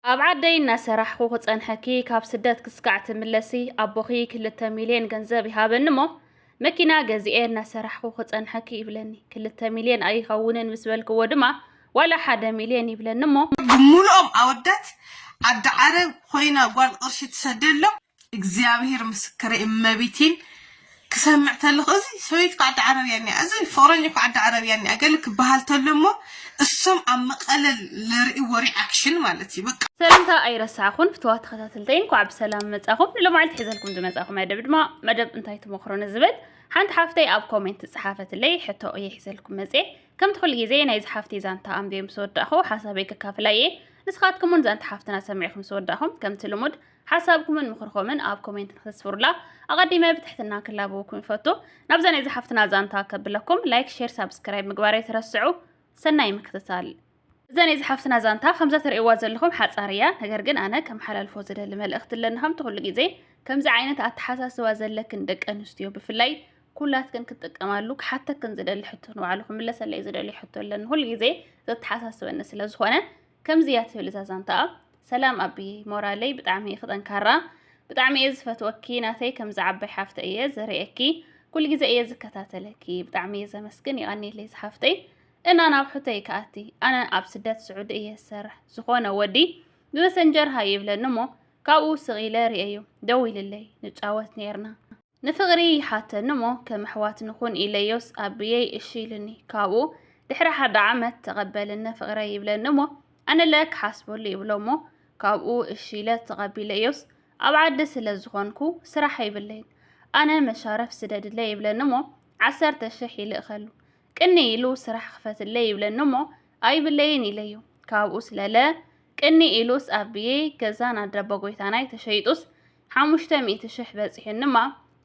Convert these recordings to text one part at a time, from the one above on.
ኣብ ዓደይ እናሰራሕኹ ክጸንሐኪ ካብ ስደት ክስካዕ ትምለሲ ኣቦኺ ክልተ ሚልዮን ገንዘብ ይሃበኒ እሞ መኪና ገዚኤ እናሰራሕኹ ክጸንሐኪ ይብለኒ ክልተ ሚልዮን ኣይኸውንን ምስ በልክዎ ድማ ዋላ ሓደ ሚልዮን ይብለኒ እሞ ብምሉኦም ኣወዳት ዓዲ ዓረብ ኮይና ጓል ቅርሺ ትሰደሎም እግዚኣብሄር ምስክረይ እመቤቴን ክሰምዕ ተለኹ እዚ ሰበይቲ ከዓ ዓዲ ዓረብያ እኒኣ እዚ ፍቕረኝ እኮ ዓዲ ዓረብያ እኒኣ ገለ ክበሃል ተሎ እሞ እሶም ኣብ መቐለ ለርእዎ ሪኣክሽን ማለት እዩ በቃ ሰላምታ ኣይረሳዕኹን ፍትዋ ተኸታተልተይ እንኳዕ ብሰላም መፃኹም ንሎማዓልቲ ሒዘልኩም ዝመፃኹ መደብ ድማ መደብ እንታይ ትመኽሮ ንዝብል ሓንቲ ሓፍተይ ኣብ ኮሜንት ዝፀሓፈትለይ ሕቶ እየ ሒዘልኩም መፀ ከምቲ ኩሉ ግዜ ናይዚ ሓፍቲ ዛንታ ኣንብየ ምስ ወዳእኹ ሓሳበይ ከካፍላ እየ ንስኻትኩም እውን ዛንታ ሓፍትና ሰሚዕኹም ስወዳእኹም ከምቲ ልሙድ ሓሳብኩምን ምኽርኹምን ኣብ ኮሜንት ንክተስፍሩላ ኣቐዲመ ብትሕትና ክላበወኩም ይፈቱ። ናብዛ ናይ ዝሓፍትና ዛንታ ከብለኩም ላይክ፣ ሼር፣ ሳብስክራይብ ምግባር ኣይትረስዑ። ሰናይ ምክትታል። እዛ ናይ ዝሓፍትና ዛንታ ከምዛ ትርእይዋ ዘለኹም ሓጻር እያ። ነገር ግን ኣነ ከም ሓላልፎ ዝደሊ መልእኽቲ ኣለኒ ከምቲ ኩሉ ግዜ ከምዚ ዓይነት ኣተሓሳስባ ዘለክን ደቂ ኣንስትዮ ብፍላይ ኩላትክን ክትጥቀማሉ ክሓተክን ዝደሊ ሕቶ ንባዕሉ ክምለሰለይ ዝደልዩ ሕቶ ኣለኒ ኩሉ ግዜ ዘተሓሳስበኒ ስለ ዝኾነ ከምዚ እያ ትብል እዛ ዛንታ ኣብ ሰላም ኣቢ ሞራለይ ብጣዕሚ ኢኺ ጠንካራ ብጣዕሚ እየ ዝፈትወኪ ናተይ ከምዚ ዓባይ ሓፍተ እየ ዝርእየኪ ኩሉ ግዜ እየ ዝከታተለኪ ብጣዕሚ እየ ዘመስግን ይቐኒለይ ዝሓፍተይ እና ናብ ሕቶይ ከኣቲ ኣነ ኣብ ስደት ስዑዲ እየ ዝሰርሕ ዝኾነ ወዲ ብመሰንጀር ሃይ ይብለኒ እሞ ካብኡ ስቕ ኢለ ርእየዩ ደው ኢልለይ ንጫወት ነይርና ንፍቕሪ ይሓተኒ እሞ ከም ኣሕዋት ንኹን ኢለዮስ ኣቢየይ እሺ ኢሉኒ። ካብኡ ድሕሪ ሓደ ዓመት ተቐበልኒ ፍቕረይ ይብለኒ እሞ ኣነለ ክሓስበሉ ይብሎ እሞ ካብኡ እሺ ኢለ ተቐቢለዮስ ኣብ ዓዲ ስለ ዝኾንኩ ስራሕ የብለይን ኣነ መሻረፍ ስደድለይ ይብለኒ እሞ ዓሰርተ ሽሕ ይልእኸሉ ቅኒ ኢሉ ስራሕ ክፈትለይ ይብለኒ እሞ ኣይብለይን ኢለዮ ካብኡ ስለለ ቅኒ ኢሉስ ኣቢየይ ገዛን ኣደቦ ጎይታናይ ተሸይጡስ ሓሙሽተ ሚእቲ ሽሕ በጺሑንማ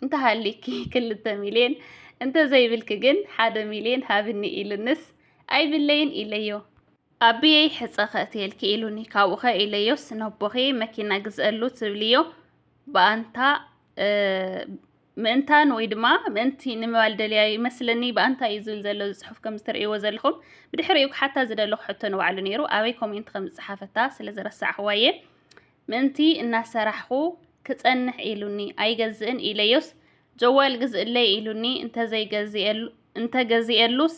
እንተሃሊኪ ክልተ ሚልዮን እንተዘይብልኪ ግን ሓደ ሚልዮን ሃብኒ ኢሉንስ ኣይብለይን ኢለዮ። ኣቢየይ ሕጸ ከእትየልኪ ኢሉኒ ካብኡኸ ኢለዮስ ነቦኺ መኪና ግዝእሉ ትብልዮ ብኣንታ ምእንታን ወይ ድማ ምእንቲ ንምባል ደልያ ይመስለኒ ብኣንታ እዩ ዝብል ዘሎ ዝፅሑፍ ከም ዝትርእይዎ ዘለኹም ብድሕሪኡ ክሓታ ዝደለኹ ሕቶ ንባዕሉ ነይሩ ኣበይ ኮሜንት ከም ዝፀሓፈታ ስለ ዝረሳዕኽዋ እየ ምእንቲ እናሰራሕኹ ክጸንሕ ኢሉኒ ኣይገዝእን ኢለዮስ፣ ጀዋል ግዝእለይ ኢሉኒ እንተ ገዚኤሉስ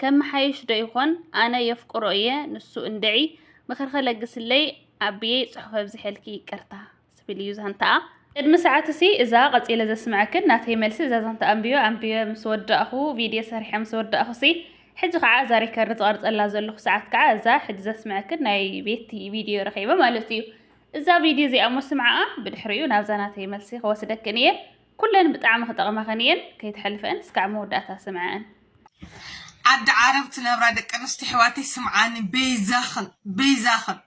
ከመሓይሽ ዶ ይኾን፣ ኣነ የፍቅሮ እየ ንሱ እንድዒ ምኽሪ ከለግስለይ ኣቢየይ ጽሑፍ ኣብዚሐልኪ ይቅርታ። ዝብል እዩ ዛንታኣ። ቅድሚ ሰዓትሲ እዛ ቀጺለ ዘስመዐክን ናተይ መልሲ እዛ ዛንታ ኣንቢበ ኣንቢበ ምስ ወዳእኹ ቪድዮ ሰሪሐ ምስ ወዳእኹሲ ሕጂ ከኣ እዛ ሪከርድ ዝቐርጸላ ዘለኹ ሰዓት ከኣ እዛ ሕጂ ዘስምዐክን ናይ ቤቲ ቪድዮ ረኺበ ማለት እዩ። እዛ ቪድዮ እዚኣ እሞ ስምዓኣ ብድሕሪኡ ናብዛ ናተይ መልሲ ክወስደክን እየ። ኩለን ብጣዕሚ ክጠቕማኽን እየን ከይትሕልፈእን እስካዕ መወዳእታ ስምዐኣን። ዓዲ ዓረብ ትነብራ ደቂ ኣንስትዮ ኣሕዋተይ ስምዓኒ በይዛኽን በይዛኽን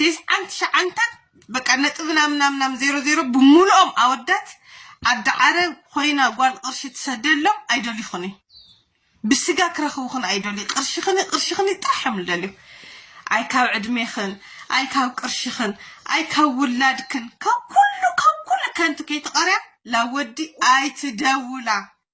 ቴስዓን ትሽዓንተን በቃ ነጥቢ ናም ናም ናም ዜሮ ዜሮ ብምሉኦም ኣወዳት ዓዲ ዓረብ ኮይና ጓል ቅርሺ ትሰደሎም ኣይደልዩኹን እዩ ብስጋ ክረኽቡኽን ኣይደልዩ ቅርሽኽን ቅርሽኽን ጥራሕ እዮም ዝደልዩ ኣይ ካብ ዕድሜኽን ኣይ ካብ ቅርሽኽን ኣይ ካብ ውላድክን ካብ ኩሉ ካብ ኩሉ ከንቱ ከይትቐርያ ላወዲ ኣይትደውላ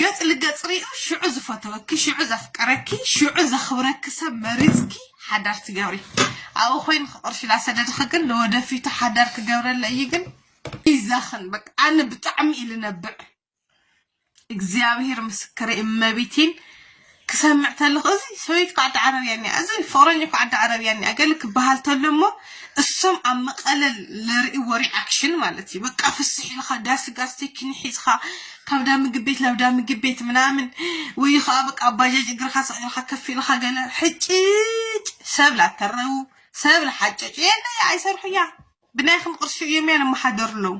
ገጽ ልገጽ ሪኡ ሽዑ ዝፈተወኪ ሽዑ ዘፍቀረኪ ሽዑ ዘክብረኪ ሰብ መሪጽኪ ሓዳር ትገብሪ ኣብኡ ኮይኑ ክቅርሽ ላሰደድኺ ግን ንወደፊቱ ሓዳር ክገብረለ እዩ ግን ይዛኽን በቃ ኣነ ብጣዕሚ እዩ ልነብዕ እግዚኣብሔር ምስክረይ እመቤቴን ክሰምዕ ተለኩ እዚ ሰበይቲ እኮ ዓዲ ዓረብያ እኒኣ እዚ ፍቅረኝ እኮ ዓዲ ዓረብያ እኒኣ ገለ ክበሃል ተሎ እሞ እሶም ኣብ መቀለ ለርእዎ ሪኣክሽን ማለት እዩ በቃ ፍስሕ ኢልካ ዳስ ጋስቲክን ሒዝካ ካብ ዳ ምግብ ቤት ናብ ዳ ምግብ ቤት ምናምን ወይ ከዓ በቃ ኣብ ባጃጅ እግርካ ሰቂልካ ከፍ ኢልካ ገለ ሕጭጭ ሰብ ላተረቡ ሰብ ላሓጨጩ የለ ኣይሰርሑያ ብናይኹም ቅርሺ እዮም እያ ንመሓደሩ ኣለዉ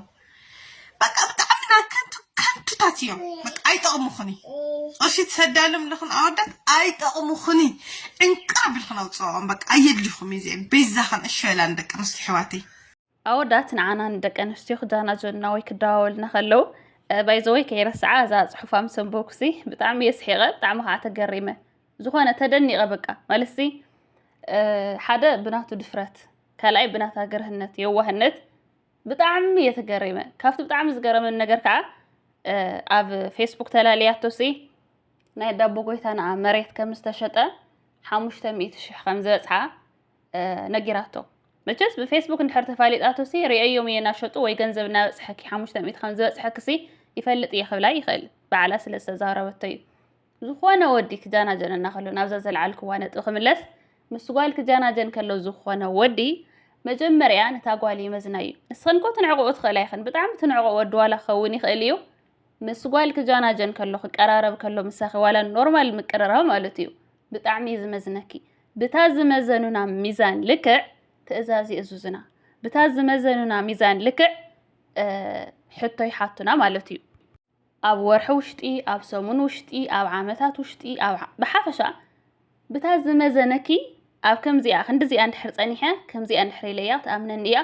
በቃ ብጣዕሚ ና ከንቱ ከንቱታት እዮም በቃ ኣይጠቕሙኹን ቅርሺ ትሰዳሎም ኣለኹን ኣወዳት ኣይጠቕሙኹን ዕንቅር ብልኹን ኣውፅኦም በቃ ኣየድሊኹም እዩ እዚኦም ቤዛኸን እሸላን ደቂ ኣንስትዮ ኣሕዋተይ ኣወዳት ንዓና ንደቂ ኣንስትዮ ክጃናጀኑና ወይ ክደዋወልና ከለዉ ባይዘወይ ከይረስዓ እዛ ፅሑፋ ምስ ኣንበብኩሲ ብጣዕሚ እየ ስሒቐ ብጣዕሚ ከዓ ተገሪመ ዝኾነ ተደኒቐ በቃ ማለትሲ ሓደ ብናቱ ድፍረት ካልኣይ ብናታ ገርህነት የዋህነት ብጣዕሚ እየ ተገሪመ ካብቲ ብጣዕሚ ዝገረመን ነገር ከዓ ኣብ ፌስቡክ ተላለያቶ ሲ ናይ ዳቦ ጎይታና መሬት ከም ዝተሸጠ ሓሙሽተ ሚእቲ ሽሕ ከም ዝበፅሓ ነጊራቶ መቸስ ብፌስቡክ እንድሕር ተፋሊጣቶ ሲ ርእዮም እየ እናሸጡ ወይ ገንዘብ እናበፅሐኪ ሓሙሽተ ሚእቲ ከም ዝበፅሐኪ ሲ ይፈልጥ እየ ክብላ ይኽእል በዓላ ስለ ዝተዛረበቶ እዩ ዝኾነ ወዲ ክጃናጀን እናኸሎ ናብዛ ዘልዓልክዋ ነጥቢ ክምለስ ምስ ጓል ክጃናጀን ከሎ ዝኾነ ወዲ መጀመርያ ነታ ጓል ይመዝና እዩ ንስኽን ኮ ትንዕቕኡ ትኽእላ ይኽን ብጣዕሚ ትንዕቆ ወዲ ዋላ ክኸውን ይኽእል እዩ ምስ ጓል ክጃናጀን ከሎ ክቀራረብ ከሎ ምሳኺ ዋላ ኖርማል ምቅርራብ ማለት እዩ ብጣዕሚ እዩ ዝመዝነኪ ብታ ዝመዘኑና ሚዛን ልክዕ ትእዛዝ ይእዙዝና ብታ ዝመዘኑና ሚዛን ልክዕ ሕቶ ይሓቱና ማለት እዩ ኣብ ወርሒ ውሽጢ፣ ኣብ ሰሙን ውሽጢ፣ ኣብ ዓመታት ውሽጢ፣ ኣብ ብሓፈሻ ብታ ዝመዘነኪ ኣብ ከምዚኣ ክንዲዚኣ እንድሕር ጸኒሐ፣ ከምዚኣ እንድሕር ኢለያ ክትኣምነኒ እያ፣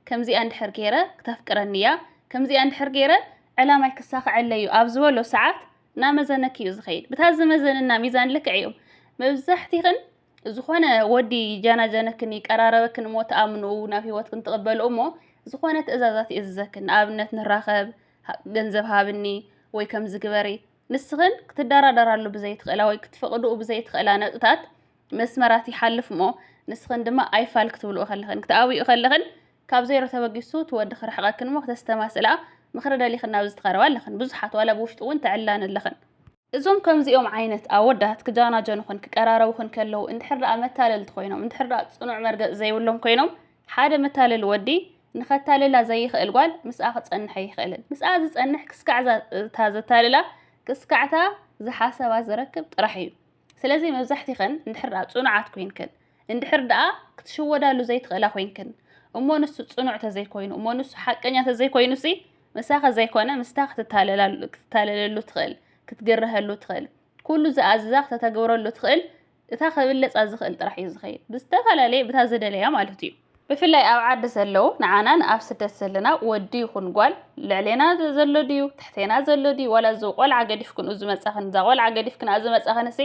ከምዚኣ እንድሕር ገይረ ክተፍቅረኒ እያ፣ ከምዚኣ እንድሕር ገይረ ዕላማይ ክሳኽዐለይ እዩ ኣብ ዝበሎ ሰዓት እናመዘነኪ እዩ ዝኸይድ። ብታ ዝመዘንና ሚዛን ልክዕ እዮም መብዛሕቲኽን ዝኾነ ወዲ ይጃናጀነክን ይቀራረበክን እሞ ትኣምንኡ ናብ ህይወትክን ትቕበልኡ እሞ ዝኾነ ትእዛዛት ይእዝዘክን ንኣብነት ንራኸብ ገንዘብ ሃብኒ ወይ ከምዚ ግበሪ ንስኽን ክትደራደራሉ ብዘይትኽእላ ወይ ክትፈቕድኡ ብዘይትኽእላ ነጥብታት መስመራት ይሓልፍ እሞ ንስኽን ድማ ኣይፋል ክትብልኡ ከለኽን ክትኣብኡ ከለኽን ካብ ዜሮ ተበጊሱ እቲ ወዲ ክርሕቐክን እሞ ክተስተማስላ ምኽሪ ደሊኽን ናብ ዝተቐረባ ኣለኽን ብዙሓት ዋላ ብውሽጢ እውን ተዕላን ኣለኽን እዞም ከምዚኦም ዓይነት ኣወዳት ክጃናጀኑኽን ክቀራረቡኽን ከለዉ እንድሕር ደኣ መታለልቲ ኮይኖም እንድሕር ደኣ ጽኑዕ መርገጽ ዘይብሎም ኮይኖም ሓደ መታለሊ ወዲ ንኸታልላ ዘይኽእል ጓል ምስኣ ክጸንሕ ኣይኽእልን። ምስኣ ዝጸንሕ ክስካዕ እታ ዘታልላ ክስካዕታ ዝሓሰባ ዝረክብ ጥራሕ እዩ። ስለዚ መብዛሕቲኽን እንድሕር ደኣ ጽኑዓት ኮይንክን እንድሕር ደኣ ክትሽወዳሉ ዘይትኽእላ ኮይንክን እሞ ንሱ ጽኑዕ ተዘይኮይኑ እሞ ንሱ ሓቀኛ ተዘይኮይኑሲ ምሳኺ ዘይኮነ ምስታ ክትታለለሉ ትኽእል፣ ክትግረሀሉ ትኽእል፣ ኩሉ ዝኣዝዛ ክተተግብረሉ ትኽእል እታ ክብለጻ ዝኽእል ጥራሕ እዩ ዝኸይድ። ብዝተፈላለየ ብታ ዝደለያ ማለቱ እዩ። ብፍላይ ኣብ ዓዲ ዘለዉ ንዓና ንኣብ ስደት ዘለና ወዲ ይኹን ጓል ልዕሌና ዘሎ ድዩ ትሕቴና ዘሎ ድዩ ዋላ እዚ ቆልዓ ገዲፍክንኡ ዝመጻኽን እዛ ቆልዓ ገዲፍክንኣ ዝመጻኽንሲ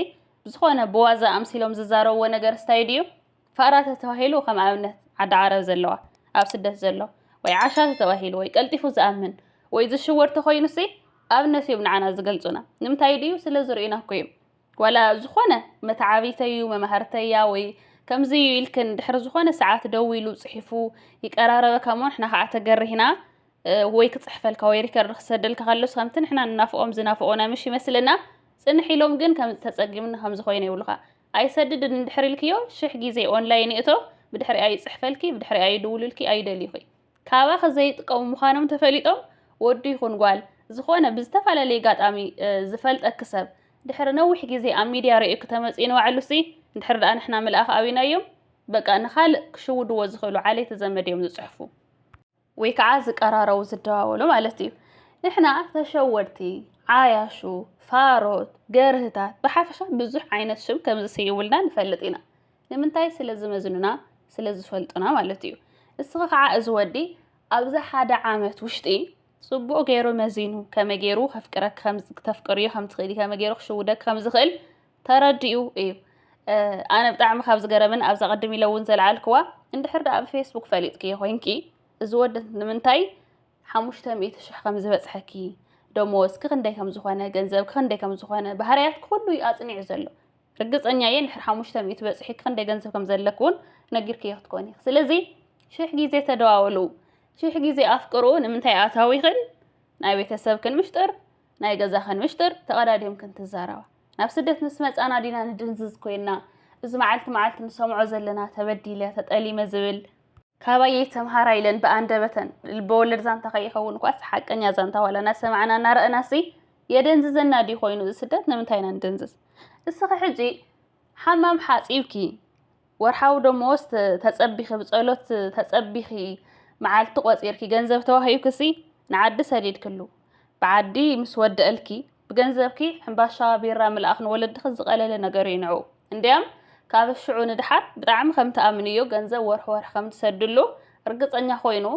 ብዝኾነ ብዋዛ ኣምሲሎም ዝዛረብዎ ነገርስ ታይ ድዩ ፋራ ተተባሂሉ ከም ኣብነት ዓዲ ዓረብ ዘለዋ ኣብ ስደት ዘሎ ወይ ዓሻ ተተባሂሉ ወይ ቀልጢፉ ዝኣምን ወይ ዝሽወድ ተኾይኑሲ ኣብነት እዮም ንዓና ዝገልጹና ንምንታይ ድዩ ስለ ዝርእዩና እኮ እዮም ዋላ ዝኾነ መተዓቢተይ እዩ መማህርተያ ወይ ከምዚ እዩ ኢልክን ድሕሪ ዝኾነ ሰዓት ደው ኢሉ ጽሒፉ ይቀራረበካ እሞ ንሕና ከዓ ተገሪህና ወይ ክጽሕፈልካ ወይ ሪከርድ ክሰደልካ ከሎስ ከምቲ ንሕና ንናፍቆም ዝናፍቆና ምሽ ይመስለና ጽንሕ ኢሎም ግን ከም ተጸጊምና ከም ዝኾይነ ይብሉኻ ኣይሰድድን እንድሕር ኢልክዮ ሽሕ ግዜ ኦንላይን ይእቶ ብድሕሪኣ ይጽሕፈልኪ ብድሕሪኣ ይድውሉልኪ ኣይደልዩኺ ካባኺ ዘይጥቀሙ ምዃኖም ተፈሊጦም ወዲ ይኹን ጓል ዝኾነ ብዝተፈላለየ ጋጣሚ ዝፈልጠኪ ሰብ ድሕሪ ነዊሕ ግዜ ኣብ ሚድያ ርእዩኪ ተመጽዩ ንባዕሉሲ እንድሕር ደኣ ንሕና ምልኣኽ ኣቢናዮም በቃ ንኻልእ ክሽውድዎ ዝኽእሉ ዓሌቲ ዘመድ እዮም ዝጽሕፉ ወይ ከዓ ዝቀራረቡ ዝደዋወሉ ማለት እዩ። ንሕና ተሸወድቲ፣ ዓያሹ፣ ፋሮት፣ ገርህታት ብሓፈሻ ብዙሕ ዓይነት ሽም ከም ዝስይሙልና ንፈልጥ ኢና። ንምንታይ ስለ ዝመዝኑና ስለ ዝፈልጡና ማለት እዩ። እስኺ ከዓ እዚ ወዲ ኣብዚ ሓደ ዓመት ውሽጢ ጽቡቕ ገይሩ መዚኑ ከመይ ገይሩ ከፍቅረኪ ከምዚ ክተፍቅርዮ ከም ትኽእሊ ከመይ ገይሩ ክሽውደኪ ከም ዝኽእል ተረዲኡ እዩ ኣነ ብጣዕሚ ካብ ዝገረምን ኣብዛ ቅድም ኢለ እውን ዘልዓልክዋ እንድሕር ደኣ ብፌስቡክ ፈሊጥክዮ ኮይንኪ እዚ ወዲ ንምንታይ ሓሙሽተ ሚእቲ ሽሕ ከም ዝበፅሐኪ ደሞዝ ክክንደይ ከም ዝኾነ ገንዘብ ክክንደይ ከም ዝኾነ ባህርያት ኩሉ እዩ ኣፅኒዑ ዘሎ ርግፀኛ እየ ንድሕር ሓሙሽተ ሚእቲ በፅሒ ክክንደይ ገንዘብ ከም ዘለክ እውን ነጊርክዮ ክትኮን ኢኽ ስለዚ ሽሕ ግዜ ተደዋወሉ ሽሕ ግዜ ኣፍቅሩ ንምንታይ ኣታዊኽን ናይ ቤተሰብክን ምሽጥር ናይ ገዛኽን ምሽጥር ተቐዳዲምክን ትዛረባ ናብ ስደት ምስ መጻና ዲና ንድንዝዝ ኮይና እዚ መዓልቲ መዓልቲ ንሰምዖ ዘለና ተበዲለ ተጠሊመ ዝብል ካባየይ ተምሃራ ኢለን ብኣንደበተን ልበወለድ ዛንታ ከይኸውን ኳስ ሓቀኛ ዛንታ ዋላ እናሰማዕና እናረእናሲ የደንዝዘና ድዩ ኮይኑ እዚ ስደት ንምንታይ ኢና ንድንዝዝ እስኺ ሕጂ ሓማም ሓጺብኪ ወርሓዊ ደሞዝ ተጸቢኺ ብጸሎት ተጸቢኺ መዓልቲ ቆጺርኪ ገንዘብ ተዋሂብክሲ ንዓዲ ሰዲድክሉ ብዓዲ ምስ ወደእልኪ ብገንዘብኪ ሕምባሻ ቢራ ምልኣኽ ንወለድኺ ዝቐለለ ነገርዩ ንዑ እንድያም ካብ ሽዑ ንድሓር ብጣዕሚ ከም ትኣምንዮ ገንዘብ ወርሒ ወርሒ ከም ትሰድሉ ርግጸኛ ኮይኑ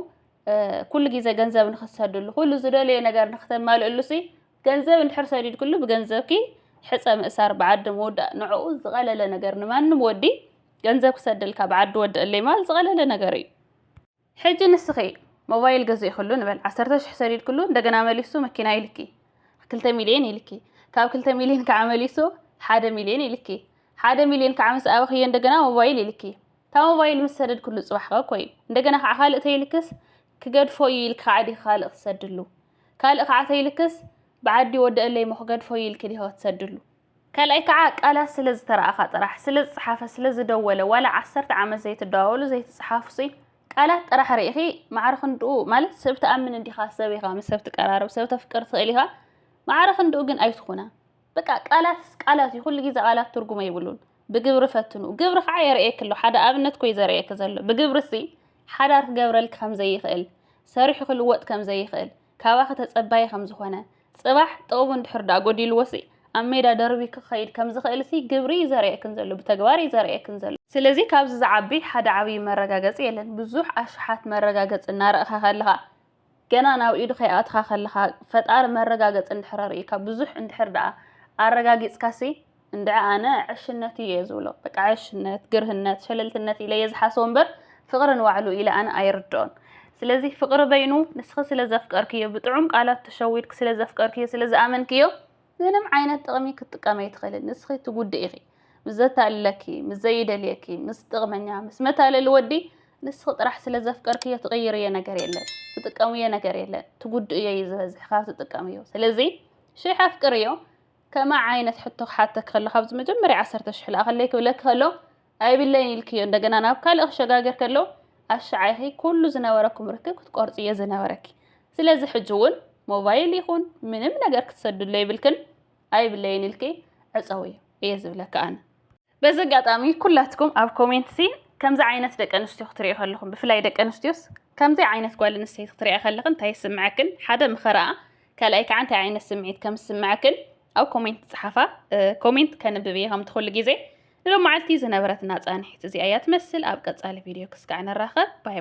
ኩሉ ግዜ ገንዘብ ንኽትሰድሉ ኩሉ ዝደለዮ ነገር ንኽተማልእሉሲ ገንዘብ እንድሕር ሰዲድክሉ ብገንዘብኪ ሕፀ ምእሳር ብዓዲ ምውዳእ ንዕኡ ዝቐለለ ነገር ንማንም ወዲ ገንዘብ ክሰደልካ ብዓዲ ወደእለይ ምባል ዝቐለለ ነገር እዩ። ሕጂ ንስኺ ሞባይል ገዚእክሉ ንበል ዓሰርተ ሽሕ ሰዲድክሉ እንደገና መሊሱ መኪና ኢልኪ ክልተ ሚልየን ኢልኪ ካብ ክልተ ሚልየን ከዓ መሊሱ ሓደ ሚልየን ኢልኪ ሓደ ሚልየን ከዓ ምስ ኣበኽዮ እንደገና ሞባይል ኢልኪ እታ ሞባይል ምስ ሰደድክሉ ፅባሕ ከ እኮ እዩ እንደገና ከዓ ካልእ ተይልክስ ክገድፎ እዩ ኢልኪ ከዓ ዲኺ ካልእ ክትሰድሉ ካልእ ከዓ ተይልክስ ብዓዲ ወዲ እለይ ሞክገድ ፎይ ኢልኪ ዲሆ ትሰድሉ። ካልኣይ ከዓ ቃላት ስለ ዝተረኣኻ ጥራሕ፣ ስለ ዝፀሓፈ፣ ስለ ዝደወለ፣ ዋላ ዓሰርተ ዓመት ዘይትደዋወሉ ዘይትፀሓፉሲ ቃላት ጥራሕ ሪኢኺ ማዕረ ክንድኡ ማለት ሰብ ትኣምን እንዲኻ ሰብ ኢኻ ምስ ሰብ ትቀራረብ ሰብ ተፍቅር ትኽእል ኢኻ ማዕረ ክንድኡ ግን ኣይትኹና። በቃ ቃላትስ ቃላት እዩ ኩሉ ግዜ ቃላት ትርጉም ኣይብሉን ብግብሪ ፈትኑ ግብሪ ከዓ የርእየኪ ኣሎ ሓደ ኣብነት ኮይ ዘርእየኪ ዘሎ ብግብሪሲ ሓዳር ክገብረልኪ ከም ዘይኽእል ሰሪሑ ክልወጥ ከም ዘይኽእል ካባኺ ተጸባዪ ከም ዝኾነ ጽባሕ ጥቕሙ እንድሕር ደኣ ጎዲልዎሲ ኣብ ሜዳ ደርቢ ክኸይድ ከም ዝኽእልሲ ግብሪ እዩ ዘርእየክን ዘሎ ብተግባር እዩ ዘርእየክን ዘሎ ስለዚ ካብዚ ዝዓቢ ሓደ ዓብዪ መረጋገጺ የለን ብዙሕ ኣሽሓት መረጋገጺ እናረእኻ ከለኻ ገና ናብ ኢዱ ከይኣተኻ ከለኻ ፈጣሪ መረጋገጺ እንድሕር ኣርእዩካ ብዙሕ እንድሕር ደኣ ኣረጋጊጽካሲ እንድዒ ኣነ ዕሽነት እዩ እየ ዝብሎ በቃ ዕሽነት ግርህነት ሸለልትነት ኢለ እየ ዝሓስቦ እምበር ፍቕሪ ንባዕሉ ኢለ ኣነ ኣይርድኦን ስለዚ ፍቕሪ በይኑ ንስኺ ስለ ዘፍቀርክዮ ብጥዑም ቃላት ተሸዊድኪ ስለ ዘፍቀርክዮ ስለ ዝኣመንክዮ ምንም ዓይነት ጥቕሚ ክትጥቀም ኣይትኽእልን። ንስኺ ትጉድእ ኢኺ። ምስ ዘታልለኪ፣ ምስ ዘይደልየኪ፣ ምስ ጥቕመኛ፣ ምስ መታለሊ ወዲ ንስኺ ጥራሕ ስለ ዘፍቀርክዮ ትቕይርዮ ነገር የለን። ትጥቀምዮ ነገር የለን። ትጉድእዮ እዩ ዝበዝሕ ካብ ትጥቀምዮ። ስለዚ ሽሕ ኣፍቅርዮ። ከምኣ ዓይነት ሕቶ ክሓተኪ ከሎ ካብዚ መጀመርያ ዓሰርተ ሽሕ ልኣኸለይ ክብለኪ ከሎ ኣይብለይን ኢልክዮ እንደገና ናብ ካልእ ክሸጋገር ከሎ ኣሻዓይኺ ኩሉ ዝነበረኩም ርክብ ክትቆርጽ እየ ዝነበረኪ ስለዚ ሕጂ እውን ሞባይል ይኹን ምንም ነገር ክትሰድሎ ይብልክን ኣይብለይን ኢልኪ ዕጸውዮ እየ ዝብለካ ኣነ በዚ ኣጋጣሚ ኩላትኩም ኣብ ኮሜንት ሲ ከምዚ ዓይነት ደቂ ኣንስትዮ ክትሪኦ ከለኹም ብፍላይ ደቂ ኣንስትዮስ ከምዚ ዓይነት ጓል ኣንስተይቲ ክትሪኣ ከለኽን እንታይ ይስምዐክን ሓደ ምኸረኣ ካልኣይ ከዓ እንታይ ዓይነት ስምዒት ከም ዝስምዐክን ኣብ ኮሜንት ጸሓፋ ኮሜንት ከንብብ እየ ከምቲ ኩሉ ግዜ ንሎማዓልቲ ዝነበረትና ጻንሒት እዚኣ እያ ትመስል ኣብ ቀጻሊ ቪድዮ ክስካዕ ንራኸብ ባይ ባይ